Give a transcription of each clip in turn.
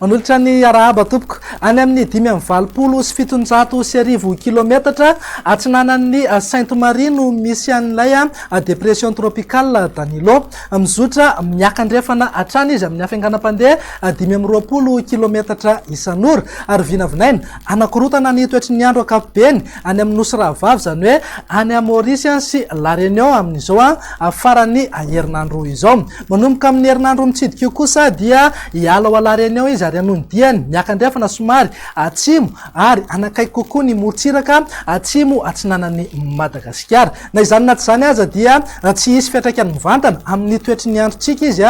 Manolotra ny arahaba tompoko any amin'ny dimy amin'ny valopolo sy fitonjato sy arivo kilometatra atsinanan'ny Sainte Marie no misy an'ilay depression tropicale Danilo. Mizotra miakandrefana hatrany izy amin'ny hafainganam-pandeha dimy amby roapolo kilaometatra isan'ora, ary vinavinaina hanakorotana ny toetry ny andro ankapobeny any amin'ny Nosy Rahavavy, izany hoe any Maorisy sy La Réunion amin'izao faran'ny herinandro izao. Manomboka amin'ny herinandro mitsidika io kosa dia hiala ao La Réunion izy ary hanondihany miakandrefana somary atsimo ary hanakaiky kokoa ny morontsiraka atsimo atsinanan'i Madagasikara. Na izany na tsy izany aza dia tsy hisy fiantraikany mivantana amin'ny toetry ny androntsika izy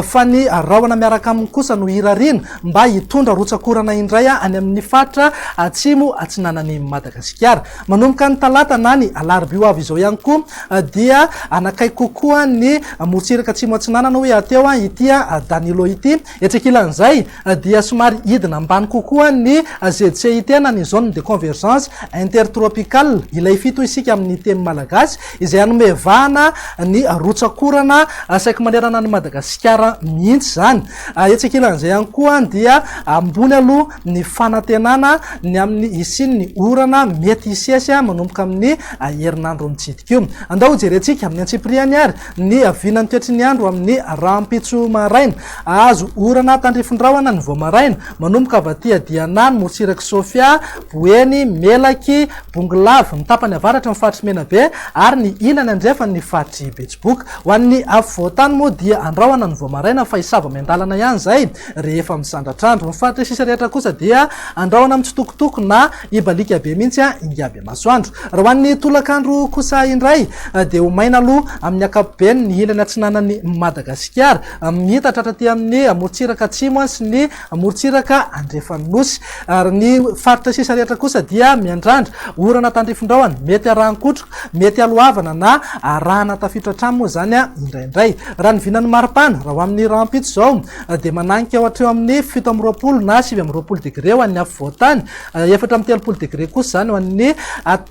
fa ny rahona miaraka aminy kosa no irariana mba hitondra rotsak'orana indray any amin'ny faritra atsimo atsinanan'i Madagasikara. Manomboka ny talata na ny alarobia ho avy izao ihany koa dia hanakaiky kokoa ny morontsiraka atsimo atsinanana hoy hateo ity Danilo ity. Etsy ankilan'izay dia somary hidina ambany kokoa ny ZCIT na ny Zone de Convergence Intertropicale, ilay fito isika amin'ny teny malagasy, izay hanome vahana ny rotsak'orana saiky manerana an'i Madagasikara mihitsy izany. Etsy ankilan'izay ihany koa dia ambony aloha ny fanantenana ny amin'ny hisian'ny orana mety hisesy manomboka amin'ny herinandro mitsidika io. Andao hojerentsika amin'ny antsipiriany ary Niaviana nikatry ny andro amin'ny rahampitso maraina. Hahazo orana tandrify rahona ny vao maraina. Manomboka avy aty Adianà, ny morotsirak'i Sofia, Boeny, Melaky, Bongolava, ny tapany avaratry ny faritry Menabe ary ny ilany andrefany ny faritry Betsiboka. Ho an'ny afovoan-tany moa dia andrahona ny vao maraina fa hisava miandalana ihany izay rehefa misandratr'andro. Ny faritra sisa rehetra kosa dia andrahona mitsitokotoko na Hibaliaka be mihitsy ingahy Bemasoandro. Raha ho an'ny tolakandro kosa indray dia ho maina aloha amin'ny ankapobeny ny ilany atsinanan'i Madagasikara. Miitatra hatraty amin'ny morontsiraka atsimo sy ny morontsiraka andrefan'ny nosy. Ary ny faritra sisa rehetra kosa dia miandrandra orana tandrifindraony, mety arahan-kotroka, mety haloavana na arahana tafiotra hatrany moa izany indraindray. Raha ny vinan'ny maripana, raha ho amin'ny rahampitso izao, na dia mananika ho hatreo amin'ny fito amby roapolo na sivy amby roapolo degre ho an'ny afovoan-tany, efatra amby telopolo degre kosa izany ho an'ny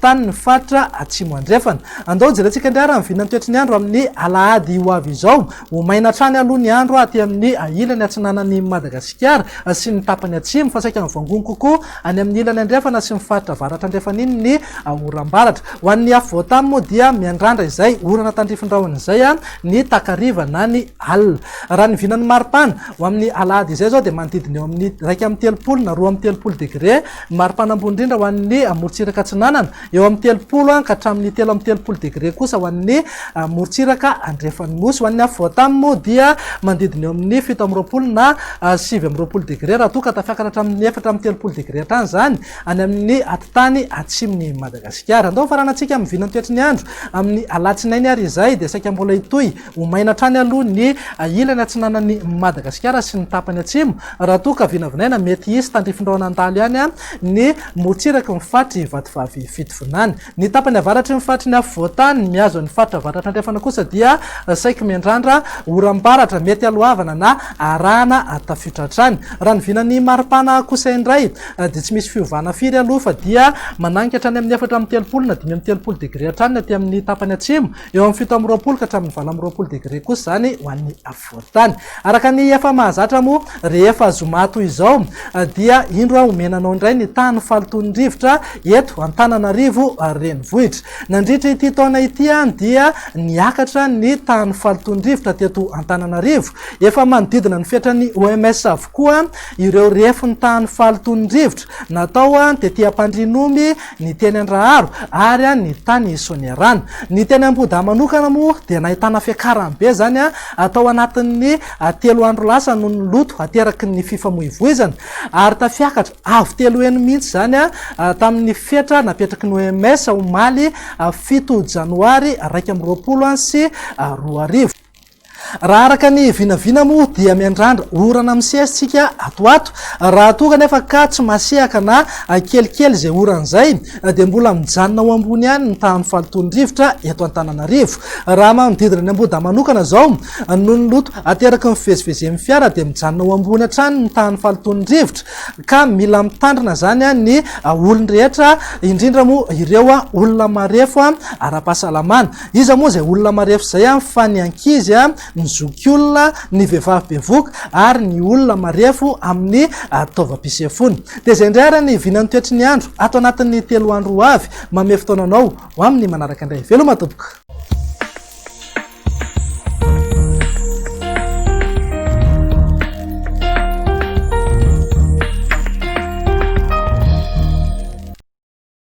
tanin'ny faritra Atsimo Andrefana. Andao jerentsika indray ary ny vinan'ny toetry ny andro amin'ny alahady ho avy izao. Ho maina hatrany aloha ny andro aty amin'ny ilany atsinanan'i Madagasikara sy ny tapany atsimo fa saika mivangongo kokoa any amin'ny ilany andrefana sy ny faritra avaratra-andrefan'iny ny oram-baratra. Ho an'ny afovoan-tany moa dia miandrandra izay orana tandrifin-drahona izay ny takariva na ny Alina. Raha ny vinan'ny maripana, ho amin'ny alahady izay izao dia manodidina eo amin'ny iraika amby telopolo na roa amby telopolo degre ny maripana ambony indrindra ho an'ny morontsiraka atsinanana, eo amin'ny telopolo ka hatramin'ny telo amby telopolo degre kosa ho an'ny morontsiraka andrefan'ny Nosy. Ho an'ny afovoantany moa dia manodidina eo amin'ny fito amby roapolo na sivy amby roapolo degre raha toa ka tafiakatra hatramin'ny efatra amby telopolo degre hatrany izany any amin'ny atitany atsimon'i Madagasikara. Andao ho faranantsika amin'ny vinan'ny toetry ny andro amin'ny alatsinainy ary izay dia saika mbola hitohy Ho maina hatrany aloha ny ilany atsinanan'i Madagasikara sy ny tapany atsimo, raha toa ka vinavinaina mety hisy tandrifindrao nandalo ihany ny motsiraky ny faritry Vatovavy Fitovinany. Ny tapany avaratry ny faritry ny afovoan-tany mihazo an'ny faritra avaratra andrefana kosa dia saiky miandrandra oram-baratra mety haloavana na arahana tafiotra hatrany. Raha ny vinan'ny maripana kosa indray dia tsy misy fiovana firy aloha fa dia mananika hatrany amin'ny efatra amby telopolo na dimy amby telopolo degre hatrany ny aty amin'ny tapany atsimo, Eo amin'ny fito amby roapolo ka hatramin'ny valo amby roapolo degre kosa izany ho an'ny afovoan-tany. Araka ny efa mahazatra moa, rehefa zoma toy izao dia indro homena anao indray ny tany falotoan'ny rivotra eto Antananarivo renivohitra. Nandritra ity taona ity dia niakatra ny tany falotoan'ny rivotra teto Antananarivo. Efa manodidina ny fetran'ny OMS avokoa ireo refin'ny tany falotoan'ny rivotra natao tetia-pandrinomby ny teny Andraharo ary ny tany Soanierana. Ny teny Ambohidahy manokana moa dia nahitana fiakarany be izany tao anatin'ny telo andro lasa noho ny loto ateraky ny fifamoivoizana ary tafiakatra avo telo heny mihitsy izany tamin'ny fetra napetraky ny OMS omaly fito janoary iraika amby roapolo sy roa arivo. Raha araka ny vinavina moa dia miandrandra orana misesy tsika ato ato, raha toa kanefa ka tsy masehaka na kelikely izay orana izay dia mbola mijanona ho ambony ihany ny tahan'ny fahalotoan'ny rivotra eto Antananarivo. Raha manodidina ny Ambohidahy manokana izao, noho ny loto ateraky ny fivezivezen'ny fiara dia mijanona ho ambony hatrany ny tahan'ny fahalotoan'ny rivotra ka mila mitandrina izany ny olon-drehetra indrindra moa ireo olona marefo ara-pahasalamana. Iza moa izay olona marefo izay an, fa ny ankizy an, ny zokiolona, ny vehivavy bevoka ary ny olona marefo amin'ny taovam-pisefoana. Dia izay indray ary ny vinan'ny toetry ny andro ato anatin'ny telo andro ho avy. Mamehy fotoana anao ho amin'ny manaraka indray. Veloma tompoko.